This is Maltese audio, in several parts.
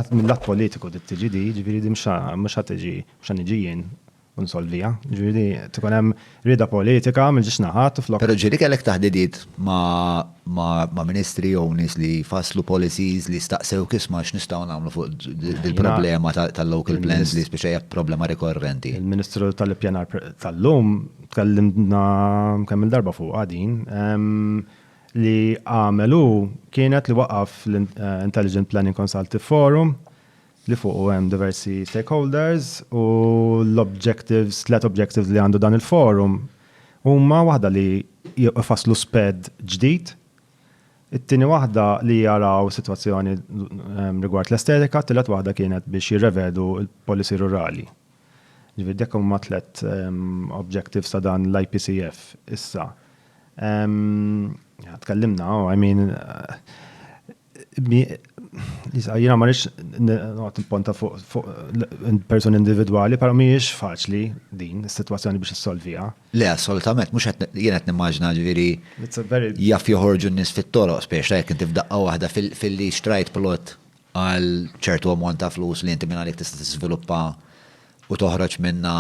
Għad mil-lat politiku trid tiġi di, jiġifieri di mhux ħa tiġi, mhux ħa niġi jien u nsolviha. Jiġifieri di trid ikun hemm rieda politika mill-ġiex naħat u flok. Però ġieli kellek taħdidiet ma' ministri jew nies li jfasslu policies li staqsewk isma' x'nistgħu nagħmlu fuq dil-problema tal-local plans li spiċċa hija problema rikorrenti? Il-Ministru tal-Ippjanar tal-lum tkellimna kemm-il darba fuqha din. li għamel hu kienet li waqaf l-Intelligent Planning Consultative Forum li fuqu hemm diversi stakeholders u l-objectives, tliet objectives li għandu dan il-forum huma waħda li jfasslu sped ġdid, it-tieni waħda li jaraw sitwazzjoni ehm, rigward l-estetika, tielet waħda kienet biex jirrevedu l-policy rurali. Ġifieri dak huma tliet ehm, objectives ta' dan l-IPCF issa. Tkellimna, oh, I mean, jina ma rix noqgħod nipponta fuq person individwali, però mhijiex faċli din is-sitwazzjoni biex issolviha. Le, assolutament, mhux qed jien qed nimmaġina ġifieri jaf joħorġu n-nies fit-toroq spiex ta' jekk inti f'daqqa waħda filli xtrajt plot għal ċertu ammont ta' flus li inti mingħajr tista' tiżviluppa u toħroġ minnha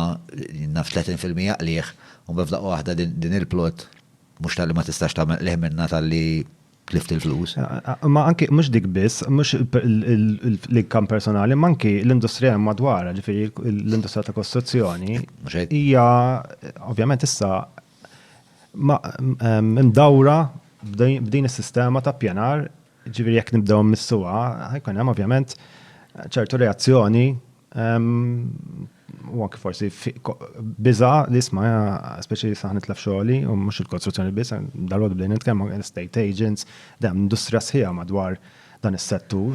naf 30 fil-mija qligħ u mbagħad f'daqqa waħda din il-plot mhux talli ma tistax tagħmel qligħ minnha talli tlift il-flus. Ma anki mhux dik biss, mhux l-inkam personali, ma anki l-industrija madwar, ġifieri l-industrija ta' kostruzzjoni. Hija ovvjament issa mdawra b'din is-sistema ta' pjanar Ġifieri jekk nibdew missuha, ħajkun hemm ovvjament ċertu reazzjoni u anke forsi biża li isma' speċi li saħ nitlef xogħli u mhux il-kostruzzjoni biss, dal-għodu bdejn nitkellmu estate agents, dam industrija sħiħa madwar dan is-settur.